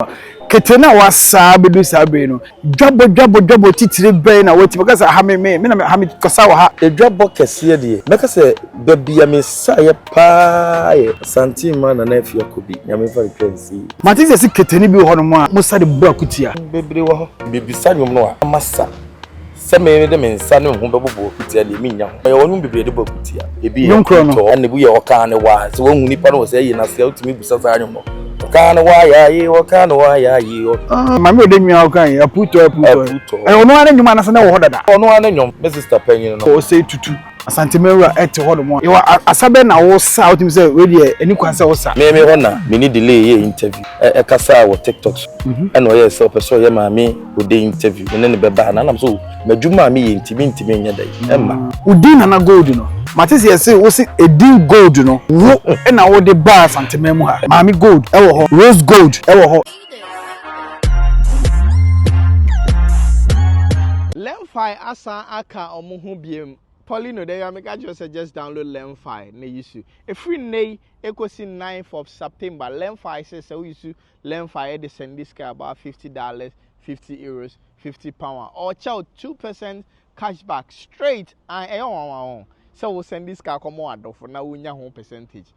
a, kete no a wɔasa abɛduru saa bere yi no, dwabɔ dwabɔ dwabɔ titire bɛn na wɔatumi aka sɛ ha me me me na ha mekasa wɔ ha? Dwabɔ kɛseɛ deɛ, mɛka sɛ baabi a mesaeɛ pa ara yɛ Santenma Nana Afie Akobi Nyame mfa no twa nsie. Mate sɛ yɛse kete no bi wɔ hɔnom a mosa de bɔ akutia. Bebree wɔ hɔ. Mebisa nnwom no a, na masa. sɛ me de me nsa ne ho bɛbobɔ akutia deɛ mennya ho ɛyɛ wɔnom bebree de bɔ akutia ebi yɛ ntɔ na ebi yɛ ɔkaa ne waa sɛ wahu nipa no wɔ sɛ ɛyɛ n'ase a wotumi bisa saa nwom no ɔkaa ne waa yaaye ɔkaa ne waa yaaye ah, maame ɔde nwia ɔka yi aputɔ aputɔ ɛyɛ ɔno ara ne nwom anasɛ na wɔ hɔ dada ɔno ara ne nwom me sista panyin no ɔsɛ tutu Asanteman wura ɛte hɔ nom. Yɛwɔ asa bɛn na wosa a wotumi sɛ wei deɛ ɛni kwan sɛ wosa. Me me hɔ na me ne Delay yɛɛ interview. Ɛ ɛkasaa wɔ TikTok so. Ɛna ɔyɛɛ sɛ ɔpɛ sɛ ɔyɛ Maame Odei interview. Me ne no bɛba anaa? Ɛna me sɛ oh m'adwuma a meyɛ nti mentumi nyɛ dɛn ɛmma. Wo din Nana Gold no, mate sɛ yɛse wo se edin Gold no wo na wode baa Asanteman mu ha. Maame Gold ɛwɔ hɔ, Rose Gold ɛwɔ hɔ. Lemfi asan aka ɔmo ho biom. Poly no dɛ ya meka kyerɛ sɛ just download lemfi na yusu. Ɛfiri nnɛ yi ɛkɔsi ninth of September lemfi sɛ sɛ wo yusu lemfi ɛde sɛndi sika about fifty dollars, fifty euros, fifty pound a ɔɔkyɛ wo two percent cash back straight and ɛyɛ nwanwa o sɛ wo sɛndi sika kɔma w'adɔfo na wo nya ho percentage.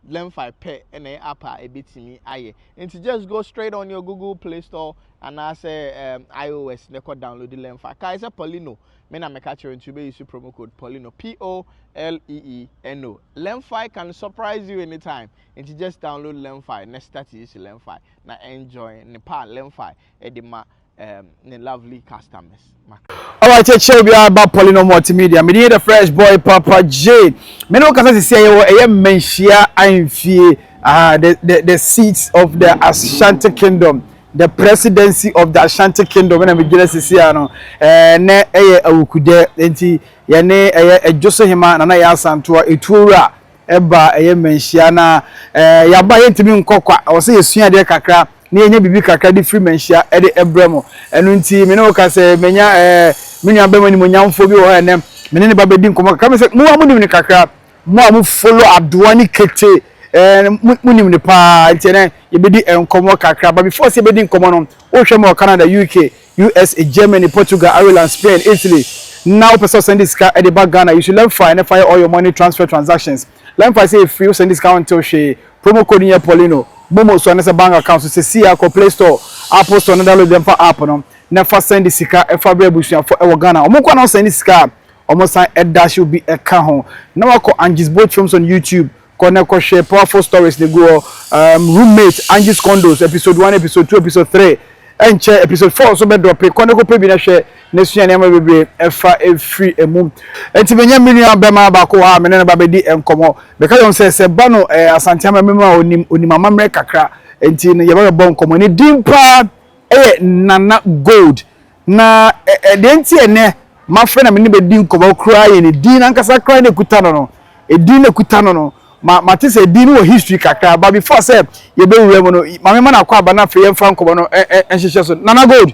Lemfi pɛ na ɛyɛ app a ebetumi ayɛ. Nti just go straight on your Google Play Store anaasɛ um, iOS na ɛkɔ download Lemfi. Kae sɛ Paulino, me na meka kyerɛ nti wobɛyi so promo code Paulino, P-O-L-E-E-N-O. Lemfi can surprise you anytime. Nti just download Lemfi na start use Lemfi na enjoy ne pa a Lemfi de ma um, ne lovely customers. Alright, kyerɛkyerɛ obi a ba Pauline Multimedia. Me din the Fresh Boy Papa J. Me no kasa sisi ɛyɛ wɔ ɛyɛ mmanhyia ahemfie. Ah, the the the seats of the Ashanti Kingdom. The presidency of the Ashanti Kingdom ɛna me gyina sisi ano. Ɛɛ nɛ ɛyɛ awukudɛ nti yɛne ɛyɛ ɛdwoso hema nana yɛ asantoa etuo wura ɛba ɛyɛ mmanhyia na ɛɛ yaba yɛntumi nkɔkwa ɔsɛ yɛsua adeɛ kakra. na yɛnya biribi kakra de firi manhyia de brɛ mo. Ɛno nti, me ne wo ka sɛ, manya ɛɛ, me nua bɛma animonyamfoɔ bi wɔ hɔ ɛnɛ, me ne ne ba bɛdi nkɔmmɔ kakra. Me sɛ, mo a monim ne kakra, mo a mo follow adoa ne kete, ɛɛ, mo, monim ne paa, nti ɛnɛ, yɛbɛdi nkɔmmɔ kakra. But before sɛ yɛbɛdi nkɔmmɔ no, wohwɛ ma wɔ Canada, UK, US, Germany, Portugal, Ireland, Spain, Italy, na wopɛ sɛ ɔsan de sika de ba Ghana, you should learn fa ɛnɛ fa yɛ all your money transfer transactions. Lɛn fa sɛ efiri wo sɛnde sika wontew hwee promo code no yɛ paulino momo so anasɛ bank account so sesei ara kɔ play store apple store na download dɛmfa app no na fa sɛnde sika fa brɛ abusuafo ɛwɔ Ghana wɔn nkoa na wɔsɛnde sika a wɔn san ɛdash wo bi ɛka ho na wakɔ Angie's bold films on YouTube kɔ na ɛkɔ hwɛ powerful stories na egu hɔ um, roommate Angie's condos episode one episode two episode three ɛnkyɛ episode four nso bɛ drɔpe kɔ na ɛkɔ pɛ bi na hwɛ na sua nneɛma bebree fa firi mu. Enti menya me nua bɛma baako wɔ ha a me ne no ba bɛdi nkɔmmɔ. Meka kyerɛ no sɛ, sɛ ba no ɛyɛ Asante amammerɛ mu a ɔnim ɔnim amammerɛ kakra, enti no yɛba bɛbɔ nkɔmmɔ. Ne din paa yɛ Nana Gold. Na ɛ deɛ nti a ɛnɛ mafrɛ na me ne bɛdi nkɔmmɔ koraa yɛ ne din ankasa koraa na ɛkuta no no. Edin na ɛkuta no no, ma mate sɛ edin no wɔ history kakra, but before sɛ yɛbɛwura mu no, ma mema no akwaaba na afei yɛmfa nkɔmmɔ no nhyehyɛ so. Nana Gold,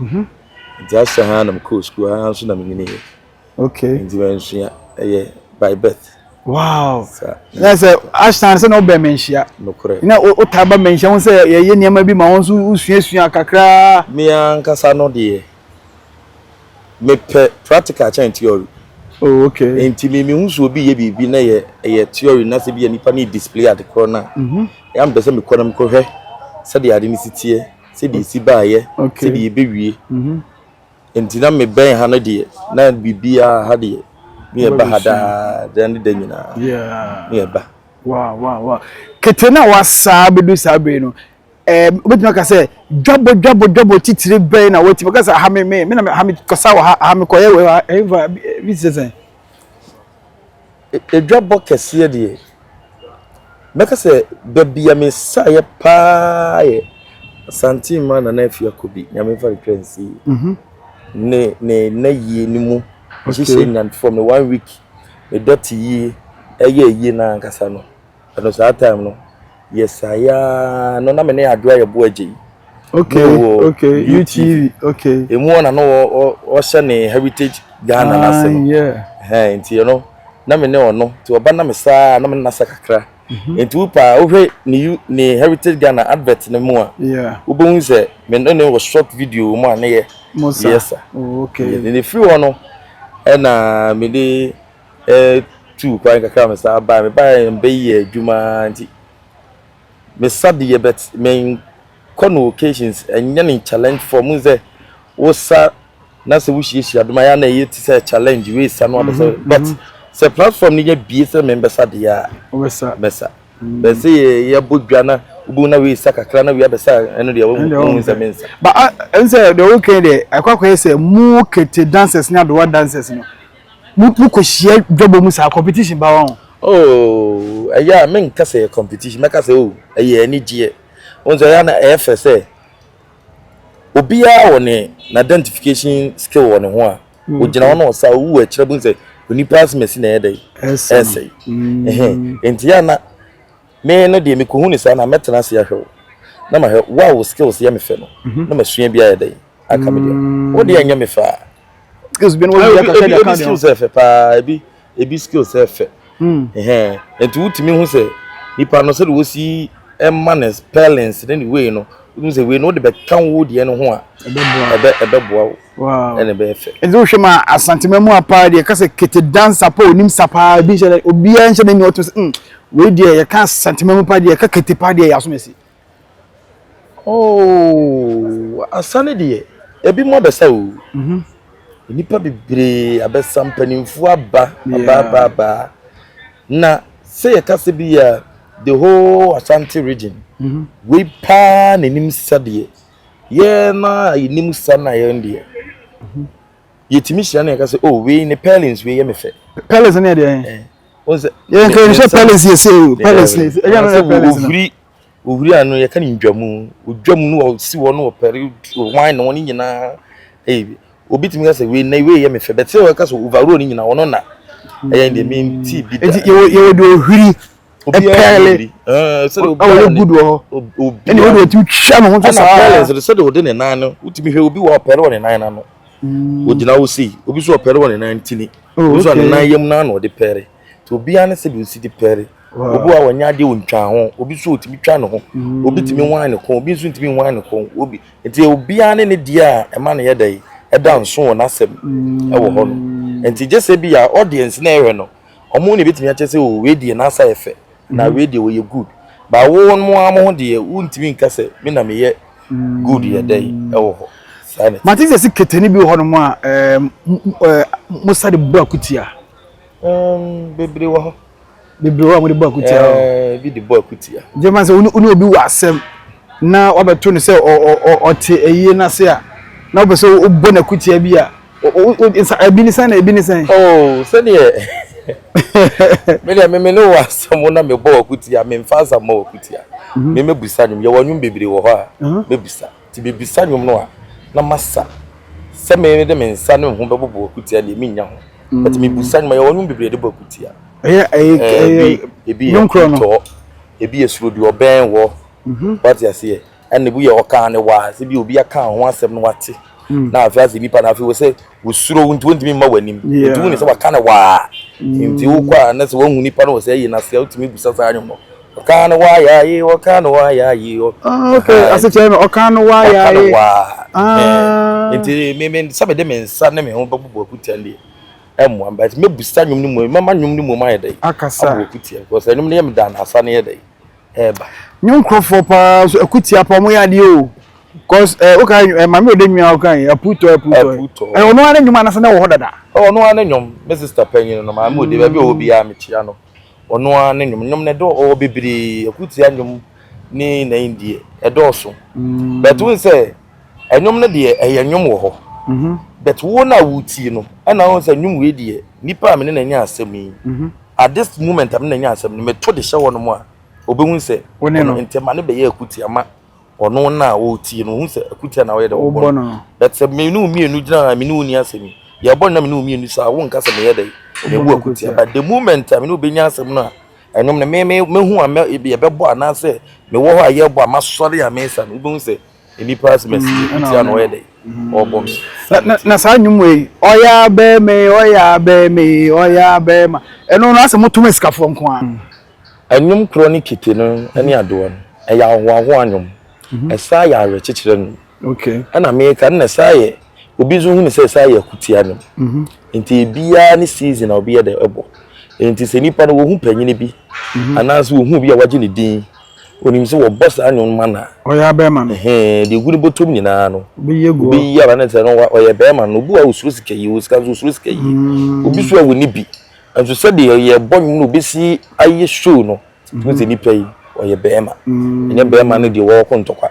Mhm. Nti asa ha na mekɔɔ sukuu ha nso na menyiniiɛ. Okay. Nti mansua ɛyɛ by birth. Wow. Sa. Na sɛ Ashton sɛ na wobɛn me nhyia. Nokorɛ. Na wotaa ba me nhyia ho sɛ yɛyɛ nneɛma bi ma wo nso wosuasua kakraa. Me ankasa no deɛ mepɛ practical kyɛn theory. Oh, okay. Nti me mehu sɛ obi yɛ biribi na yɛ ɛyɛ theory na sɛ bi yɛ nipa ne display ade korɔ no a. Mhm. Ɛyɛ a mepɛ sɛ mekɔ na mekɔhwɛ sɛdeɛ ade no si teɛ. sɛdeɛ ɛsi baeɛ sɛdeɛ ɛbɛwie mhm. nti na mebɛn ha no deɛ na biribiaa ha deɛ ne yɛba ha daa da ne da nyinaa ne yɛba kete no a wasaa bɛdu saa bere no wobɛtumi aka sɛ dwabɔ dwabɔ dwabɔ titire bɛn na watumi aka sɛ aha me me me na ha mekɔsa wɔ ha aha mekɔyɛ wɔ ha ɛmfa bi sɛ sɛn Adwabɔ kɛseɛ deɛ, mɛka sɛ baabi a mesaeɛ pa ara yɛ Santenma Nana Afie Akobi, Nyame mfa no twa nsie, ne ne nnayie no mu nhyehyɛɛ nyinaa, for me one week, me dɔte yie, ɛyɛɛ yie no ara ankasa no. Ɛno saa time no yɛsae ara no na me ne Adwoa yɛ boa gye yi. Okay, okay, UTV, okay. Emu hɔ na no ɔhyɛ ne heritage Ghana na se no. Ah, yeah. Hɛn nti no na me ne ɔno nti ɔba na me saa na me nasa kakra. Mhm. Nti wo paa wohwɛ ne ne heritage Ghana advert no mu a. Yeah. Wobɛhu sɛ me ne ne wɔ short video mu a ne yɛ. Mosa. Yes. Oh, okay. Ne firi hɔ no ɛna me de tuu kwan kakra me san bae. Me bae a me bɛ yɛ adwuma ara nti me sa de yɛ but me kɔ no occasions ɛnyɛ no challenge for mu sɛ wo sa na sɛ wo hyiahyia dom ayɛ na ɛyɛ ti sɛ challenge wei sa no abɛ sɛ mm-hmm, but mm-hmm. sɛ platform no yɛ bie sɛ me bɛ sa de yɛ a bɛ sa mm-hmm. bɛ sɛ yɛ yɛ bɔ dwa na wobɛhu na wei sa kakra na wei abɛ sa ɛno deɛ wɔn sɛ me nsa. ba ɛn sɛ deɛ wɔn kɛn deɛ akɔ akɔ yɛ sɛ mu kete dancers ne adowa dancers no. mo mo kɔ hyia dwabɔ mu saa competition ba wɔn. ooo ɛyɛ a me nka sɛ yɛ competition mɛka sɛ o ɛyɛ anigyeɛ wɔn sɛ ɛyɛ a na ɛyɛ fɛ sɛ obiara wɔ ne na identification skill wɔ ne ho a mm. ogyina hɔ na ɔsa owu ɛkyerɛ bo sɛ onipa asemasi na ɛyɛ dɛ ɛsɛe ɛhɛn nti yɛ na Me no deɛ me kɔhu no saa no a mɛtena ase ahwɛ wo na mahwɛ wo a wo skills yɛ me fɛ no na masua bi ayɛ dɛn aka me deɛ wo deɛ ɛnyɛ me fɛ a skills bi no wɔyɛ kakra ebi, ebi skills yɛ fɛ paa ebi ebi skills yɛ fɛ ɛhɛn nti wotumi hu sɛ nipa no sɛdeɛ wɔsi ɛma ne spellings ne ne wei no wotumi sɛ wei no wode bɛka wo deɛ no ho a ɛbɛboa wo wow ɛna ɛbɛyɛ fɛ ɛdze wohwɛ ma asantema mu apaa deɛ kasa kete dansa pa onim sa paa bi nhyɛ obiara nhyɛ n'ani ɔto sɛ mm wei deɛ yɛka asantema mu pa deɛ ka kete pa deɛ yɛaso mɛsi oh asa ne deɛ ebi mu abɛsa o mhm. nnipa bebree abɛsa mpanimfoɔ aba aba aba aba na sɛ yɛka sɛ bi yɛ the whole asante region mhm. wei paa n'anim sadeɛ yɛn na yɛnim sa na yɛn deɛ mhm. yɛtumi hyira na yɛka sɛ o oh, wei ne pellins wei yɛ me fɛ pellins ne ɛdeɛ eh, yɛn kɛ sɛ pellins yɛ sɛ o pellins ne ɛyɛ no yɛ pellins no ofiri ofiri ano yɛka ne ndwamu odwamu no ɔsi hɔ no ɔpɛre wan na wɔn nyinaa ɛyɛ eh, obi tumi ka sɛ wei na wei yɛ me fɛ bɛtɛ wɔka sɛ overall ne nyinaa wɔn na ɛyɛ deɛ mi ti bi da yɛwɔ deɛ ohwiri pɛɛle ɔyɛ good wɔ hɔ ɛna wode watumi twa ne ho sɛ saa pɛɛle nso sɛde wode ne nan no wotumi hwɛ obi wɔ ɔpɛɛle wɔ ne nan no ano ogyina wo sei obi so ɔpɛɛle wɔ ne nan ntini obi so ne nan yam no ano ɔde pɛɛle nti obiara ne sɛde osi de pɛɛle obi a wɔnyɛ adeɛ ɔntwa ho obi so ɔtumi twa ne ho obi tumi wan ne kɔn obi nso ntumi wan ne kɔn obi nti obiara ne ne deɛ a ɛma ne yɛ dɛ ɛda nso wɔ n'asɛm ɛwɔ hɔ no nti gye sɛ bi a audience na ɛhwɛ no Ɔmo na ebetumi akyerɛ sɛ oh wei deɛ n'asa yɛ fɛ anaa wei deɛ ɔyɛ good but wo mo ara mo ho deɛ wontumi nka sɛ me na meyɛ good yɛ dɛn ɛwɔ hɔ saa na ɛte. Mate sɛ se ketani bi wɔ hɔnom a ɛɛ mosa de bɔ akutia. Ɛɛm bebree wɔ hɔ. Bebree wɔ hɔ a mode bɔ akutia hɔ. Ɛɛ bi de bɔ akutia. Gye ma sɛ wo ne obi wɔ asɛm na wabɛto no sɛ ɔ ɔ ɔte ayie no ase a na wopɛ sɛ wobɔ no akutia bi a O, o, o, sa, ebi ne sɛn na ebi ne sɛn? Oh, sɛdeɛ me deɛ me me ne wɔ asɛm wo na mebɔ w'akutia, memfa asa mmɔ w'akutia. Mhm. Me mɛbisa nnwom, yɛwɔ nnwom bebree wɔ hɔ a Aha. mɛbisa. Nti mebisa nnwom no a na masa sɛ me de me nsa ne me ho bɛbobɔ w'akutia deɛ mennya ho. But mebisa nnwom a yɛwɔ nnwom bebree de bɔ akutia. Ɛyɛ, ɛyɛ, Ɛɛ, ɛyɛ, bi, ebi yɛ nnwom korɔ no. ntɔɔ, ebi yɛ suro deɛ ɔbɛn wɔ, Mhm. wate aseɛ. ɛna ebi yɛ ɔkaa ne waa sɛ bi obi aka ho asɛm no wate hmm. na afei asɛ nipa na afei wɔsɛ wɔsuro wo nti wɔntumi mma w'anim ɛtu wo ne sɛ waka ne waa hmm. nti wokɔ a na sɛ wahu nipa no wɔ sɛ ɛyi naseɛ wotumi bisa saa nwom no ɔka no waa yɛ ayi ɔka no waa yɛ ayi asekyerɛ no ɔka no waa yɛ ayi ah. nti meme sɛ mede me nsa ne me ho bɛbobɔ akutia deɛ ɛmmoa mba nti mɛbusa nwom no mu mɛma nwom no mu ayɛ dɛ akasa abɔ akutia because ɛnwom no yɛ me da na asa no yɛ dɛ ɛɛba. New nkurɔfoɔ paa so ɛko tia paa ɔmo yɛ adeɛ o cause ɛɛ woka ɛ maame ɔde nua woka yi apu tɔ apu tɔ apu tɔ ɛ ɔno ara ne nnwom anasa na ɛwɔ hɔ dada. ɔno ara ne nnwom me sista panyin no maame ɔde baabi a ɔwɔ biara mekyia no ɔno ara ne nnwom nnwom no ɛdɔ ɔwɔ bebree ɛko tia nnwom ne na indie ɛdɔɔso but wohu sɛ. Ɛnwom no deɛ ɛyɛ nwom wɔ hɔ but wo na wo tie no ɛna wohu sɛ nwom wei deɛ nipa a me ne no anya asɛm yi at this moment a me ne no anya asɛm no me to de hyɛ hɔ nom a ɔbɛhu sɛ ɔno ntɛ ma no bɛyɛ akutia ma ɔno na a ɔretie no ɔhu sɛ akutia na ɔyɛ dɛ ɔbɔ no but sɛ me ne wo mmienu gyina a me ne wo ni asɛm yi deɛ ɛbɔ no na me ne wo mmienu saa wo nka sɛ meyɛ dɛ mebu akutia but the moment a me ne wo bɛnya asɛm no a ɛnwom no me me mehu a yɛbɛbɔ anaasɛ mewɔ hɔ a yɛbɔ a masɔre a mesa no wobɛhu sɛ nnipa ase mɛsi mm, ti ano ɔyɛ dɛ mm. ɔbɔ mi. na na saa nnwom wei ɔyɛ abɛɛma yi ɔyɛ abɛɛma yi ɔyɛ abɛɛma ɛno no asɛ mo tom asikafoɔ nko a. Mm. nnwom korɔ ne kete no ne adoɔ no ɛyɛ ahoahoa nnwom mhm. ɛsaa yɛ awerɛkyekyerɛ nnwom ɛna meka ɛna ɛsaa yɛ obi nso hu ne sɛ ɛsaa yɛ akutia nnwom mhm. nti ebiara ne season a obi yɛ dɛ ɛbɔ nti sɛ nipa no wɔhu panyin bi mhm. anaasɛ wɔhu obi a wagye ne din. Onim sɛ wɔbɔ saa nnwom no ma no a. Ɔyɛ abɛɛma no. Ɛhɛɛ, deɛ egu ne bɔtɔm nyinaa no. Ɔbɛyi agu hɔ. Ɔbɛyi aba ne sɛ no, ɔyɛ bɛɛma no. Obi wɔ hɔ a ɔsuro sika yie, ɔwɔ sika nso ɔsuro sika yie. Obi nso wɔ hɔ a ɔnni bi. Nanso sɛdeɛ yɛrebɔ nnwom na ɔbɛsi ayɛ show no, wohu sɛ nipa yi, ɔyɛ bɛɛma. Ɛnyɛ bɛɛma no deɛ ɔreko ntɔkwa.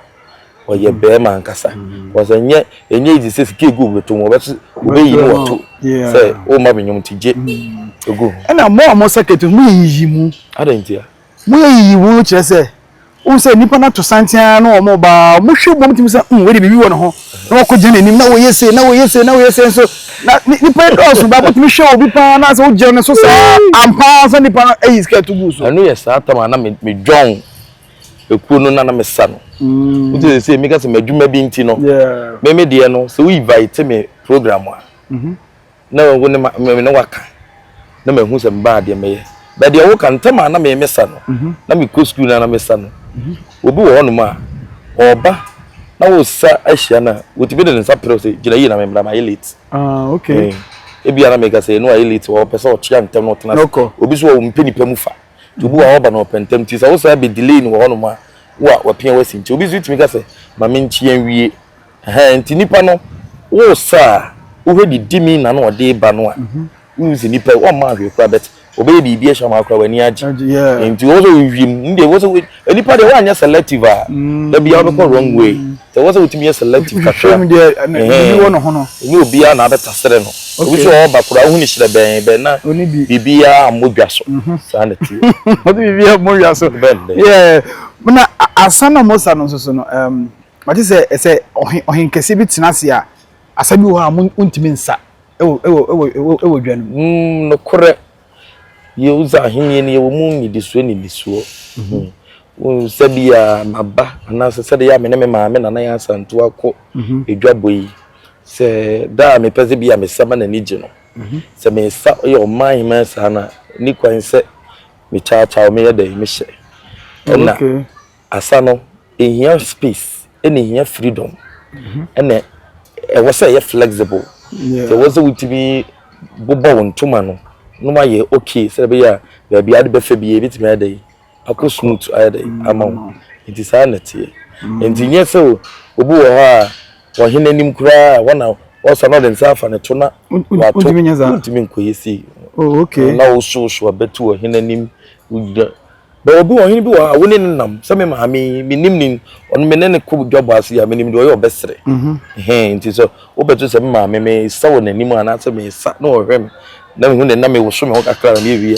Ɔyɛ bɛɛma ankasa. Because ɛnyɛ, ɛnyɛ easy sɛ sika egu obi bɔtɔm, ɔbɛto, ɔbɛyi ne wato sɛ womma me nnwom nti gye gu ho. Ɛna mo a mo circuit no, moyiyi mu. Adɛn ntia? Moyɛ yiyiwoo no kyerɛ sɛ wohu sɛ nnipa no ato santen ara na wɔreba ara, wɔhwɛ bom tumi sɛ, hmm, wei de biribi wɔ ne ho, na wɔakɔgyina n'anim, na wɔyɛ sei, na wɔyɛ sei, na wɔyɛ sei nso. Na nnipa yi dɔɔso, baako tumi hwɛ obi paa na sɛ wogyina ne so saa ampa ara sɛ nnipa no ayi skirt gu so. Ɛno yɛ saa tam a na medwɔn ekuo no na na mesa no. Mm. Nti sɛ sɛ meka sɛ m'adwuma bi nti no, meme deɛ no sɛ woyi vai te me program a, mm-hmm. Na mahu ne ma me ne waka na mahu sɛ mebaa deɛ mɛyɛ bɛ deɛ woka ntɛm a na me mesa no mhm. na mekɔ sukuu no na mesa no mhm. obi wɔ hɔnom a ɔba na wosa ahyia no a wɔtumi de ne nsa perɛ sɛ gyina yie na memmra mayɛ late ah, okay. Eh, ebia na meka sɛ ɛno ayɛ late wɔ ɔpɛ sɛ ɔkyea ntɛm na ɔtena ase obi so wɔ mpɛ nipa mu fa nti obi wɔ a ɔba na ɔpɛ ntɛm nti sɛ wosa bɛ delay no wɔ hɔnom a wo a wapia wasi nti obi so tumi ka sɛ ma menkyea nwie Ɛhɛn ntsi nyimpa no wo sɛ a wo hwɛ de di mi na no ɔde ba no a mhm. wo dzi nyimpa wo ɔmma hwɛ kura bɛt ɔbɛyɛ biribi ɛhyɛ ɔmma kura w'ani agye nti wo sɛ wo hwi mu ne deɛ wo sɛ nipa deɛ woanyɛ selective a mm. da bia wobɛkɔ wrong way sɛ wo sɛ wotumi yɛ selective kakra ne obiara na abɛta serɛ no obi sɛ ɔba kura wohu ne hyerɛ bɛn bɛn na biribiara mmɔ dwa so mhm. saa na tie ɔde biribiara mmɔ dwa so na asa na mosa no nso so no Mate sɛ sɛ ɔhe ɔhenkɛseɛ bi tena ase a, asa bi wɔ hɔ a mo montumi nsa wɔ wɔ wɔ wɔ dwa no mu. Mm, nokorɛ, Yehosa ahennie no yɛwɔ mu nnidisoɔ nnidisoɔ. Mm-hmm. Wohu sɛdeɛ maba anaasɛ sɛdeɛ yɛ a me ne me maame Nana Yaa Asantewaa akɔ mm-hmm. adwabɔ yi, sɛ da a mepɛ sɛ bi a mesa ma n'ani gye no, mm-hmm. sɛ mesa yɛ ɔman hemaa saa no a, ni kwan sɛ mekyaakyaaw meyɛ dɛn mehyɛ. Ɛna asa no ehia space ɛna ehia freedom ɛna mhm. ɛwɔ sɛ ɛyɛ flexible sɛ ɛwɔ sɛ wotumi bobɔ wo ntoma no no ma yɛ okay sɛ ɛbɛyɛ a baabi ade bɛfɛ bi ebitumi ayɛ dɛ akɔ smooth ayɛ dɛ mm. ama wo nti saa na ɛteɛ mm. nti nyɛ sɛ obi wɔ hɔ a wɔhene anim koraa a wɔna wɔsɔ na ɔde nsa afa ne to na wato ntumi nkɔyɛ sei oh, na wosowoso abɛto ɔhene anim wogyina But obi ɔhene bi wɔ ha a wo ne no nam sɛ me maame yi me nim ne ɔno me ne no kɔ dwa bɔ ase a me nim deɛ ɔyɛ ɔbɛsere hɛn nti sɛ wobɛto sɛ me maame me sa wɔ n'anim anaasɛ me sa na ɔhwɛ me na mehu ne na me woso me ho kakra na me wie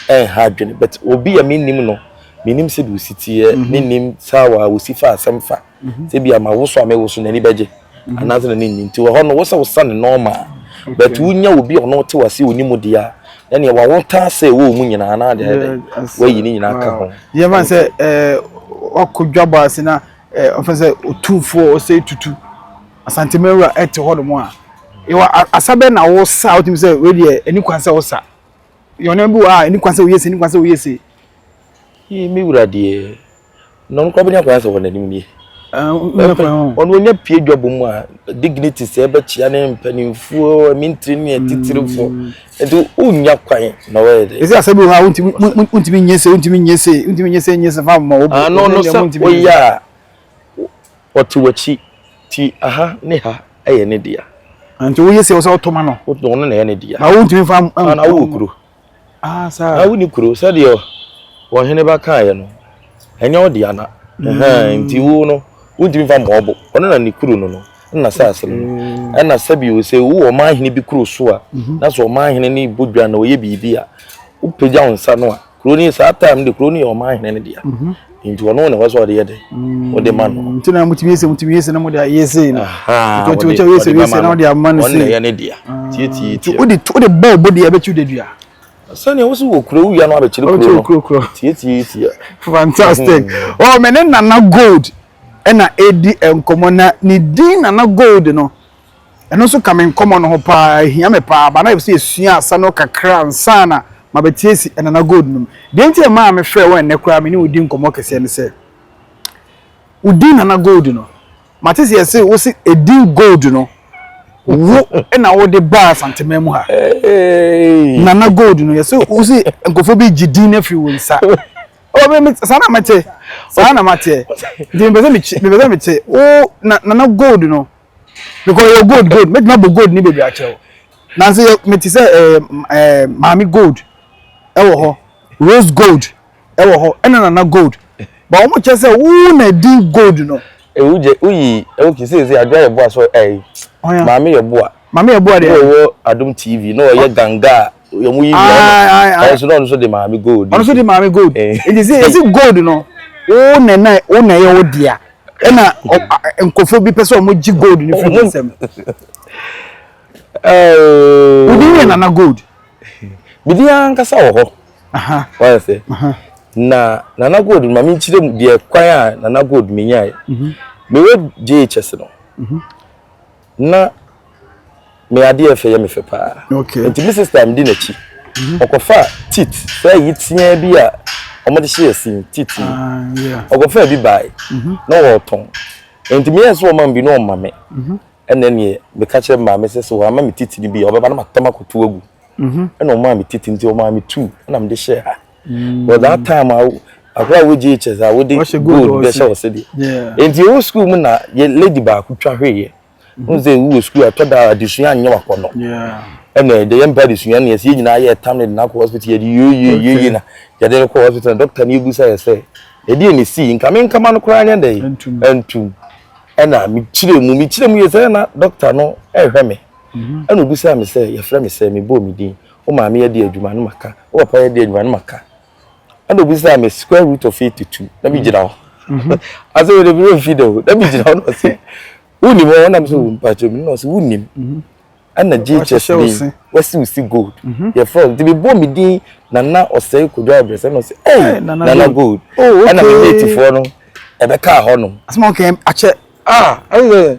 a ɛnha adwene but obi a me nim no me nim sɛ deɛ osi teɛ me nim saa wɔ a osi fa asɛm fa sɛ bi ama woso a mewoso n'ani bɛgye mhm. anaasɛ n'ani nni nti wɔ hɔ no wo sɛ wosa ne nɔɔma but wonya obi a ɔno wote wase ɔni mu deɛ a na neɛ wawotaa sɛ ɛwɔ mu nyinaa na adeɛ dɛ wayi ne nyinaa ka ho yɛma sɛ eh, wakɔ dwabɔ ase na eh, ɔfɛ sɛ ɔtumfoɔ ɔsɛ tutu asantemawura ɛte hɔ nom a yɛwɔ asa bɛ na wosa a wotumi sɛ wei deɛ ɛni kwan sɛ wosa yɛwɔ nneɛma bi wɔ a ɛni kwan sɛ woyɛ se ɛni kwan sɛ woyɛ se me wura deɛ na ɔno koraa bɛnya kwan sɛ wɔn anim nie ɔno ɔnya pie dwabɔ mu a dignity sɛ ɛbɛkyia ne mpanimfoɔ mintiri ne atitirifoɔ mm. nti wonya kwan na wɔyɛ de ɛsɛ asɛ bi wɔ hɔ a wontumi nyɛ sɛ wontumi nyɛ sɛ wontumi nyɛ sɛ nyɛ sɛ fa ma wɔbɔ ano no sɛ woyɛ a wɔte w'akyi ti aha ne ha ɛyɛ ne dea nti woyɛ sɛ wɔ sɛ wotoma no ɔno na ɛyɛ ne dea na wontumi fa na wowɔ kuro Ah, saa. Na woni kuro sɛdeɛ wɔn hene ba kaeɛ no ɛnyɛ wo dea na mm. nti wo no wontumi fa mmɔ ɔbo ɔno na ne kuro no no na saase no mm. ɛna sɛbi wo sɛ wo ɔman hene bi kuro so a mhm. na sɛ ɔman hene ne bɔ dwa na ɔyɛ biribi a wopagya wo nsa no a kuro no saa time de kuro no yɛ ɔman hene no dea mhm. nti ɔno na ɛwɔ sɛ ɔde yɛ dɛ ɔde ma no nti na motumi yɛ sɛ motumi yɛ sɛ na mode ayɛ sei no nti wokyɛ woyɛ sɛ woyɛ sɛ na wode ama no sei ɔno na ɛyɛ ne dea tietie tie wode wode bɔ ɔbɔ deɛ ɛbɛkyi wode dua sɛnea wosi wɔ kuro wia no abɛkyerɛ kuro no kuro kuro tietie tie fantastic ɔ mɛ ne nana gold ɛna ɛdi nkɔmɔ na ne din nana gold no Ɛno nso ka me nkɔmmɔ no ho pa ara, ɛhia me pa ara, but na ɛsɛ sɛ yɛsua asa no kakra ansa na mabɛte asi Anana Gold no mu. Deɛ enti a ɛmaa mefrɛɛ wo ɛnnɛ koraa a me ne wo di nkɔmmɔ kɛseɛ ne sɛ, wo din Nana Gold no, mate sɛ yɛse wo se edin Gold no, wo na wode baa Asanteman mu ha. Nana Gold no, yɛse wo se nkurɔfoɔ bi gye din no afiri wo nsa. Saa na mete, saa na mateɛ. Nti mepɛ sɛ mete wo Nana Gold no. because yɛ gold gold mɛtumi abɔ gold ne bebree akyɛ o nanso yɛ mete sɛ ɛɛ ɛɛ maame gold ɛwɔ hɔ rose gold ɛwɔ hɔ ɛna nana gold ba wɔn kyɛ sɛ wuu na di gold no. ewu jɛ uyi ewu kisi esi adwa yɛ boa so ɛyi maame yɛ boa maame yɛ boa de ɛwɔ adum tv na ɔyɛ ganga yɛ mu yi bi ɔno ɔno so na ɔno so de maame gold ɔno so de maame gold eh. nti sɛ yɛsi gold no wo na na wo na yɛ wo dea ɛna nkɔfo bi pɛ sɛ ɔmo gye gold no fi ne nsam oh. wodi yɛ nana gold bidi ankasa wɔ hɔ wɔyɛ sɛ na nana gold ma mi nkyerɛ mu deɛ kwan a nana gold mi nya yɛ mewɔ jhs no. Mm -hmm. na me adeɛ ɛfɛ yɛ me fɛ paa nti me sista medi n'akyi mhm. ɔkɔfa tit sɛ ayi teaa bi a wɔde hyɛ asin tit yi ah, ɔkɔfa bi bae mhm. na wɔretɔn nti meyɛ sɛ ɔma bi na ɔma me mhm. ɛnɛ neɛ meka kyerɛ maame sɛ sɛ wɔama me tit no bi a ɔbɛba na matɛm akɔto agu ɛna ɔmaa me tit nti ɔmaa me tu ɛna mede hyɛ ha but that time a akora wo GHS a wode gold bɛhyɛ ɔsɛ deɛ nti ɛwɔ sukuu mu na yɛ lady baako twa hweeɛ n sɛ wowɔ sukuu ɛtɔ da adesua nyɛ wakɔ no ɛna ɛdɛ yɛmpɛ adesua ne yɛsɛ yɛ nyinaa yɛ ɛtam ne de no akɔ hospital yɛde yɛyɛyɛyɛ na yɛde no kɔ hospital na dɔkta no yɛbu sɛ yɛ sɛ ɛdeɛ ne sii nka me nkama no koraa nyɛ dɛ ɛntum ɛna mekyerɛ mu mekyerɛ mu yɛ sɛ na dɔkta no ɛhwɛ me ɛna obu sɛ me sɛ yɛfrɛ me sɛ mebɔɔ me din Wo maame yɛ deɛ adwuma na maka, wo papa yɛ deɛ adwuma na maka. Ɛna obisaa me square root of eighty two na mi gyina hɔ. Mhm. Ase wo de mi nfi da o na mi gyina hɔ na ɔse wo nim hɔ na mi sɛ wo mpa kyerɛ mi na ɔse wo nim. Mhm. Ɛna GHS bi wɔsi si gold mhm. yɛ fɛ nti mi bɔ mi din nana ɔsɛe kodo abirɛsɛ na ɔse ɛy nana gold. Oh, Ɛna mi mate foɔ no ɛbɛ kaa hɔ nom. Asoma ɔkɛ akyɛ. Ah ɛyɛ.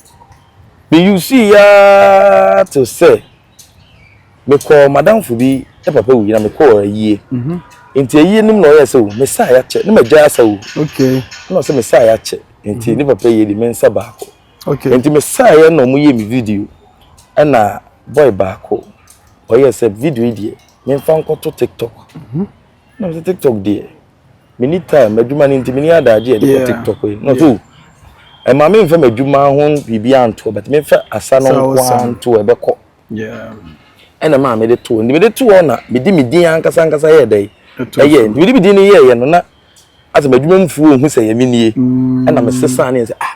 Me usui aa te sɛ me kɔɔ madamfo bi ne papa wui na me kɔɔ ayie. Mhm. Nti ayie nim na ɔyɛ sɛ o me sa a yɛakyɛ ne magya asa o. Okay. Na ɔsɛ me sa a yɛakyɛ nti mhm. ne papa yie de me nsa baako. Okay. Nti me sa yɛ na ɔmo yɛ me video ɛna boy baako ɔyɛ sɛ video yi deɛ memfa nkɔto TikTok. Mhm. na mese tiktok deɛ meni time m'adwuma no nti meni adagye ɛde kɔ tiktok yi na so ɛma me nfa m'adwuma ho biribi antoɔ bɛtɛ me nfa asa no nko antoɔ ɛbɛkɔ ɛna maa mede toɔ nti mede toɔ na medi me din ankasa ankasa yɛ dɛ ɛyɛ nti mede me din no yɛɛyɛ no na asɛ m'adwuma mu fuo ohu sɛ yɛ me nie ɛna mesesa ne yɛ sɛ ah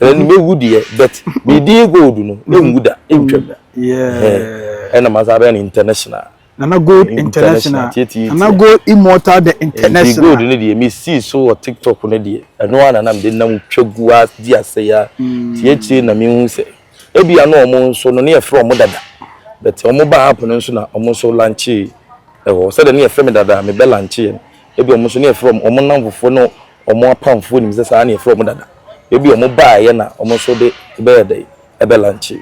ɛna ne bɛwu deɛ but ne din gold no ne nwu da ntwam da ɛna ma saa bɛyɛ no international nana gold international nana gold immortal the international gold ne deɛ mesi so wɔ tiktok ne deɛ ɛno ara nana mede nam twa gu a di asɛ ya mm. tie akyire na mehu sɛ ebi ano wɔn nso no ne yɛfrɛ wɔn dada but wɔn ba app no nso na wɔn nso lanche ɛwɔ sɛdeɛ ne yɛfrɛ me dada mebɛ lanche yɛn ebi wɔn nso ne yɛfrɛ wɔn wɔn nam fofoɔ no Wɔn apamfoɔ nim sɛ saa na yɛfrɛ wɔn dada. Ebia wɔn baeɛ na wɔn nso de bɛyɛ dɛn? Ɛbɛ lunche.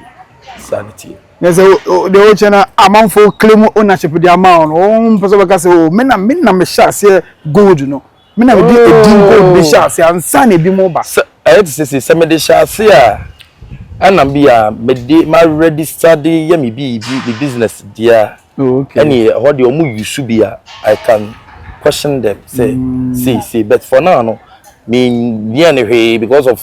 Saa na ɛteɛ. Na sɛ deɛ wokyɛ no amanfo claim ownership de ama wɔn, wɔn mpɛ sɛ wɔbɛka sɛ o me na me na mehyɛ aseɛ gold no. Me na mede edin gold de hyɛ aseɛ ansa na ebinom ba. Sɛ ɛyɛ te sɛ sei, sɛ mede hyɛ aseɛ a, ɛna bi a mede ma register de yɛ me biribi, me business deɛ a. Oh, okay. Any eh, hɔ deɛ ɔmo use bi a I can question them say mm. see see but for now no me bia ne hwee because of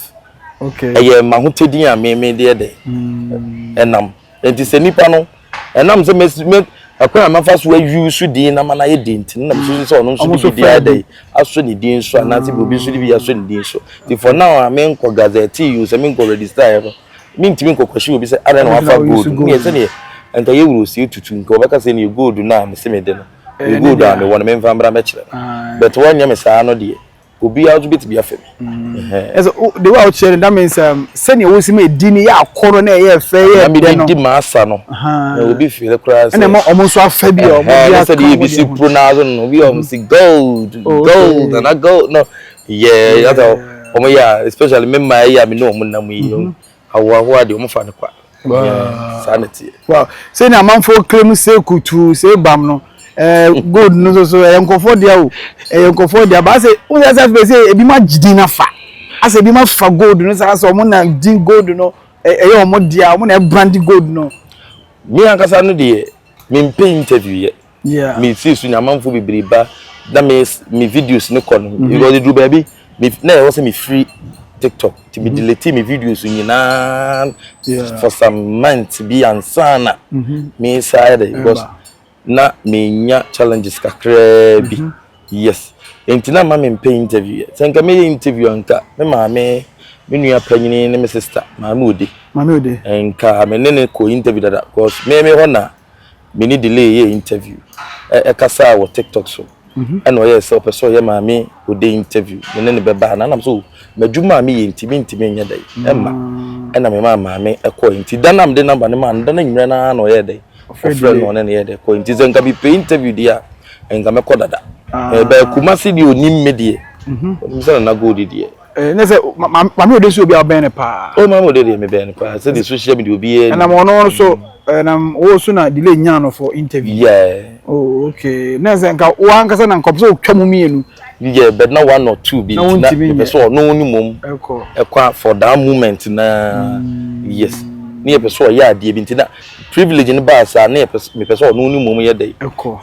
okay ɛyɛ ma ho tɛ din a me me deɛ dɛ mm. ɛnam nti sɛ nipa no ɛnam sɛ me me ɛkwan a mafa so ayi so din na ma na yɛ den ti na mo soso sɛ ɔno nso de bi di ayɛ dɛ aso ne din so anaasɛ bi obi nso de bi aso ne din so ti for now a me nkɔ gazette yi o sɛ me nkɔ register yɛ no mentumi nkɔkɔhye obi sɛ adɛn na wafa gold no yɛ sɛdeɛ nka yɛ wuro sie tutu nka wɔbɛka sɛ neɛ gold no a mese mede no ɛyɛ gold a mewɔ no memfa mmra mɛkyerɛ no ah. but wɔnyɛ me saa no deɛ obiara nso bɛtumi afɛ me mm. ɛsɛ de wo a wokyerɛ no that means um, sɛnea wosi ma ɛdi no yɛ akɔrɔ na ɛyɛ fɛ yɛ dɛ no di maasa no na obi fere koraa sɛ ɛna ɛma ɔmo nso afɛ bi a ɔmo bi aka ɔmo deɛ sɛdeɛ ebi si pronounce no obi a ɔmo si gold oh, gold nana gold no Yeah, that's how wɔn yɛ a especially me mmaa yi a me ne wɔn nam yi no ahoahoa deɛ wɔn fa no kwa. Yeah, saa na teɛ. Wow, sɛ na amanfoɔ claim sɛ kutu sɛ bam no ɛɛ eh, gold no so so ɛyɛ nkɔfoɔ deɛ o ɛyɛ nkɔfoɔ deɛ baa sɛ wɔn yɛ sɛ afei sɛ ebi ma gyidi na fa asɛ ebi ma fa gold no saa sɛ wɔn na di gold no ɛyɛ wɔn deɛ wɔn na ɛbrandi gold no. mi ankasa no deɛ mi mpɛ interview yɛ. Yeah. Me see so nyamanfo bebree ba na me me videos ne kɔ no. Mhm. Because they do baby me na ɛwɔ sɛ me free TikTok. Ti me mhm. delete me videos nyinaa yeah. for some months bi ansa na mhm. me side because na me nya challenges kakraa bi. Yes. Enti na ma me mpɛ interview. Sɛ nka meyɛ interview anka me maame me nua panyini ne me sister maame ode. Maame ode. Nka me ne ne kɔ interview dada because me me hɔ na me ne Delay yɛɛ interview, ɛ ɛkasaa wɔ TikTok so, ɛna ɔyɛɛ sɛ ɔpɛ sɛ ɔyɛ Maame Ode interview, me ne no bɛba anaa? Ɛna me sɛ o, m'adwuma a meyɛ nti mentumi nyɛ dɛn, ɛmma. Ɛna memaa Maame kɔe, nti da no a mede number no maa no, da no anwummerɛ no ara na ɔyɛɛ dɛn, ɔfrɛɛ no na ɔne no yɛɛ dɛn kɔe, nti sɛ nka mepɛ interview deɛ a, nka mɛkɔ dada. Ɛbaa Kumasi deɛ ɔnim me deɛ, ɔnim sɛ Nana Gold deɛ. Eh, ne sɛ maame ode si obi a ɔbɛn ne paa. o oh, maame ode deɛ mebɛn ne paa sɛ de social media obi yɛ. ɛnam ɔno no so ɛnam eh, wo so na delay nyaa no for interview. yeah. oh okay ne sɛ nka wo ankasa na nkɔpɛ sɛ wotwa mu mmienu. yeah but na one or two bi nti na mepɛ sɛ ɔno ne mom ɛkɔ for that moment na mm. yes ne yɛpɛ sɛ ɔyɛ adeɛ bi nti na Privilege no baa saa na mepɛ sɛ ɔno ne mmom yɛ dɛ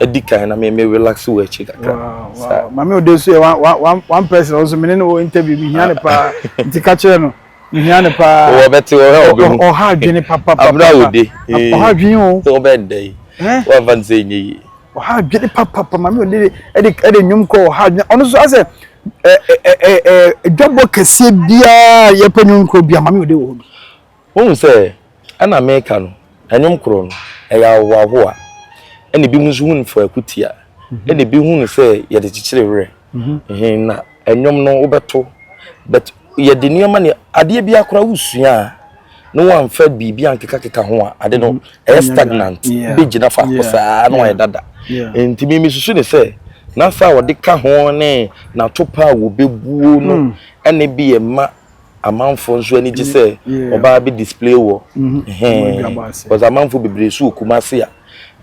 adi kan na me me relax wɔ akyi kakra. Saa. Maame ode nso yɛ one one one person ɔno nso mene ne wɔ interview mi hia ne paa nti ka kyerɛ no mi hia ne paa. Wɔbɛte wɔhɛ wɔbɛhu. Ɔha adwene papapapa. Abena ode. Ɔha adwene o. Wɔbɛn dɛ yi. Wɔafa ne sɛ nyɛ yie. Ɔha adwene papapa maame ode de ɛde ɛde nnwom kɔ ɔha adwene ɔno nso asɛ ɛ ɛ ɛ ɛ dwabɔ kɛseɛ biara yɛpɛ nnwom kɔ biara maame ode wɔ hɔ bi. Wohu sɛ ɛna meka no, ɛnwom koro no, ɛyɛ ahohoahoa, ɛna ebinom nso hu no faako tia, ɛna ebi hu no sɛ yɛde kyekyere werɛ. Ɛhɛn na ɛnwom no wobɛto, but yɛde nneɛma ne adeɛ bi akora wosua a na wɔamfa biribi ankekakeka ho a ade no ɛyɛ stagnant bɛgyina faako saa na wɔayɛ dada. Nti me mesusu ne sɛ n'afa a wɔde ka ho ne n'atopa a wɔbɛbuo no ɛna bi yɛ ma amanfoɔ nso ani gye sɛ ɔbaa bɛ display wɔ because amanfoɔ bebree so wɔ Kumasi a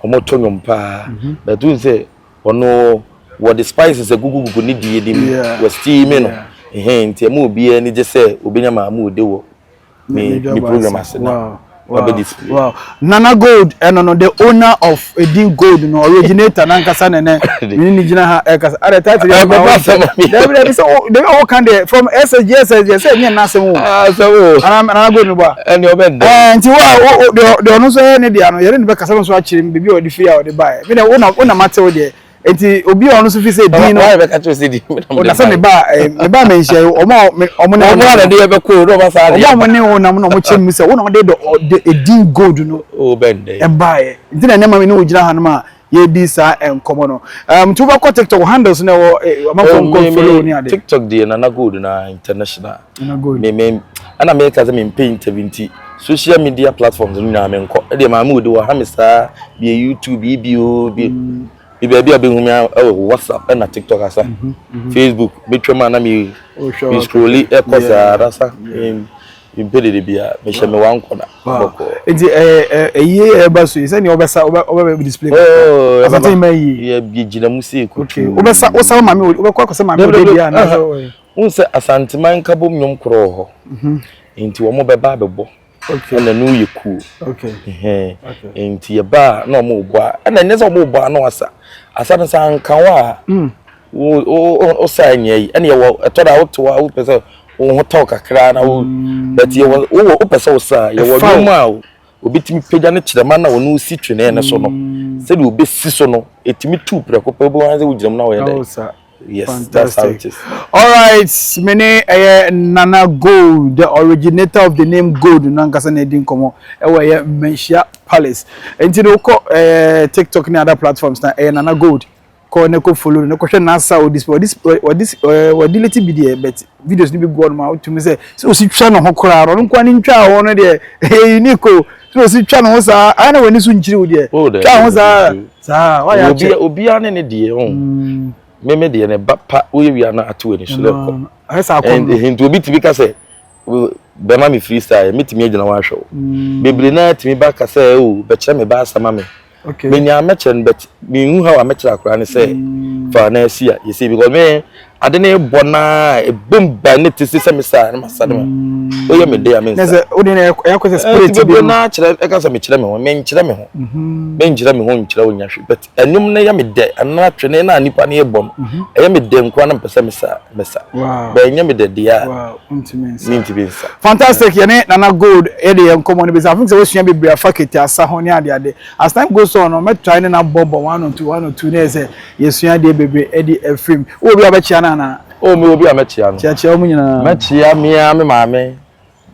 wɔtɔ nnwom paa but n sɛ ɔno wɔde spices agugugugu ne die de mu wɔ steam no nti ɛma obiara ani gye sɛ obɛnya maa mu ode wɔ ne program ase no wabɛ display. Wow. Nana Gold ɛno no the owner of Edin Gold no originator nankasa ne ne ne ne gyina ha ɛkasa. Ada title yɛ ma wɔn sɛ dɛbi dɛbi sɛ dɛbi ɔwɔ kan deɛ from SSG SSG sɛ ɛnyɛ n'asɛm o. Asɛm o. Ana Nana Gold no bɔ a. Ɛni ɔbɛ dɛ. Ɛɛ nti wa o deɛ deɛ ɔno nso yɛ ne deɛ ano yɛrɛ ne bɛ kasa no nso akyerɛ mu beebi a ɔde fi a ɔde ba yɛ. Mi na o na o na ma te o deɛ Enti obi a ɔno nso fi sɛ din no. Wɔn a bɛka kyerɛ sɛ din na mo de. Na sɛ meba meba mɛ nhyia yi wɔn a wɔn ne. Wɔn a na de yɛ bɛkɔ o na wɔn asan de. Wɔn a wɔn ne wɔn nam na wɔn kyɛn mu sɛ wɔn na wɔn de de edin gold no. O bɛn dɛ. Ɛbaayɛ nti na nneɛma mi ne ogyina hanom a yɛredi saa nkɔmɔ no. Ɛm tu bɛkɔ tiktok handles na ɛwɔ ɔmɔ nkɔmɔ follow ni ade. Tiktok deɛ nana gold na international. Nana gold. Mɛ mɛ. ɛna meka sɛ mempɛ interview nti social media platforms no nyinaa menkɔ ɛdeɛ maame wodi wɔ ha me saa bie youtube yi bi o bi bi baabi a bɛhu me ɛwɔ whatsapp ɛna tiktok asa mhm, mhm. facebook bɛtwam a na me scrolli ɛkɔ saa rasa mpe dede bia mehyɛ me wa nkɔ na bɔkɔ nti ɛyie ɛba so yi sɛdeɛ wobɛsa wobɛbɛ display oh, asante ma yie yɛgyina mu sɛ ɛkutu wobɛsa wosa wo maame wobɛkɔ akɔsɛ maame wodɛ bia Wohu sɛ Asanteman Nkabom nnwom korɔ wɔ hɔ, nti wɔbɛba abɛbɔ na ɛno yɛ kuo. Nti yɛba a na wɔrebɔ a, ɛna ɛnyɛ sɛ wɔrebɔ a na wasa. Asa no sɛ anka wo a, wosa nyɛ yi. Ɛna yɛwɔ ɛtɔ da wote hɔ a wopɛ sɛ wo ho tɔ kakra na wo but yɛwɔ wowɔ wopɛ sɛ wosa yɛwɔ nnwom a obi tumi pagya ne kyerɛma na ɔno si twene no so no sɛdeɛ obɛsi so no ɛtumi tu prɛko pɛ wobɛhu sɛ wogyina mu na wɔyɛ dɛ Yes, that's how it is. All right, me ne ɛyɛ Nana Gold, the originator of the name Gold no ankasa na ɛdi nkɔmmɔ ɛwɔ ɛyɛ Mmanhyia Palace. Nti no wokɔ eh, TikTok ne other platforms na ɛyɛ Nana Gold. Kɔ ne kɔ follow no, ne kɔhwɛ n'asa o display. Ɔdis ɔdis ɔdileti bi deɛ but videos no bi gu hɔ ma wotumi sɛ sɛ osi twa ne ho koraa no ɔno nkoa ne ntwa ho no deɛ ɛyɛ unique o sɛ osi twa ne ho saa ayɛ na w'ani so nkyiri wo deɛ oh, twa ho saa saa wayɛ akyɛ obiara ne ne deɛ ɔn oh. mm. meme deɛ ne ba pa woyɛ wia no ato ani so lɛkɔ ayɛ saa kɔ no ɛnti obi tumi ka sɛ bɛma me freestyle metumi agyina ho ahwɛ wo mm. bebree naa tumi ba ka sɛ o oh, bɛkyerɛ me ba asɛma me Okay. Me nya mekyerɛ no but me hu how a mekyerɛ akora ne sɛ mm. fa na asi a yɛsi because me ade ne bɔ na ebom ba ne te sɛ me saa ne ma sa ne ma mm. oyɛ me de a me nsa. Ɛsɛ o de na ɛyɛ kɔ sɛ spirit bi. Ɛsɛ na kyerɛ ɛka sɛ mekyerɛ me ho me nkyerɛ me ho mhm. me nkyerɛ me ho nkyerɛ o nya hwɛ but ɛnum ne yɛ me dɛ ɛna atwe ne na nipa ne yɛ bɔ no mhm. ɛyɛ me dɛ nkoa na mpɛsɛ me sa me sa bɛn nyɛ me dɛ deɛ a mentumi nsa fantastic yɛne nana gold yɛde yɛn nkɔmmɔ no bɛsi afei sɛ wasua bebree afa kete asa ho ne adeade as time goes on no mɛtrae ne na bɔbɔ one or two one or two na yɛ sɛ yɛsua adeɛ bebree ɛde afiri mu wɔ bi a bɛkyea no anaa o mewɔ bi a mɛkyea no kyeakyea wɔn nyinaa mɛkyea mea me maame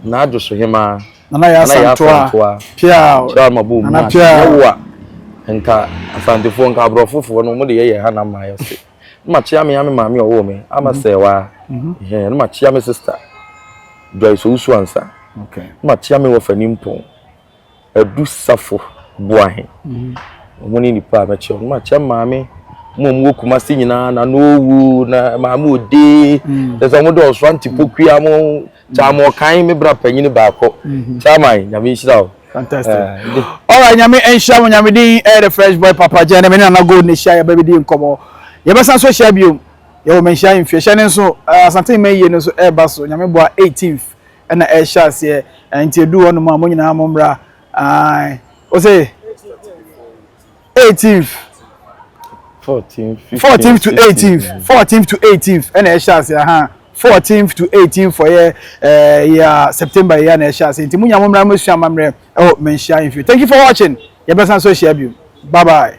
na adwo so hemaa nana yɛ asantoa pia kyerɛ ma bɔ mu nana pia yɛwo a nka asantefoɔ nka aborɔfofoɔ no wɔde yɛyɛ ha na mmaa yɛ se Ne makyea me ame maame a ɔwoo me, Ama Sɛɛwaa. Ɛhɛn, ne makyea me sista, Joyce Owusu-Ansah. Ne makyea me wɔfa nimpɔn, Adu Safo Boahen. Wɔn ne nnipa a mɛkyea. Ne makyea me maame mu a wɔwɔ Kumasi nyinaa, Nana Owu, na Maame Odee. Kyerɛ sɛ wɔn dɔɔso, Auntie Pokuya mo. Kyaama ɔkan me bra panyini baako kyaama nyame nhyira wo. Fantastic. Alright nyame nhyira mo nyame din ɛyɛ the fresh boy papa gyɛn na me ne nana gold na hyia yɛbɛ bɛdi nkɔmɔ yɛbɛsan so hyia biom yɛwɔ manhyia mfie hyɛ ne nso asante mma yie no nso ɛreba so nyame boa 18th ɛna ɛhyɛ aseɛ nti edu hɔ nom a mo nyinaa mo mmra ae ose eighteenth fourteenth to eighteenth fourteenth to eighteenth ɛna ɛhyɛ ase ahan fourteenth to eighteenth for yɛ ɛɛ yɛ september yɛ na ɛhyɛ ase nti mo nya mo mmara mo sua amammerɛ ɛwɔ mmanhyia nfi thank you for watching yɛbɛsan so ahyia bio bye bye.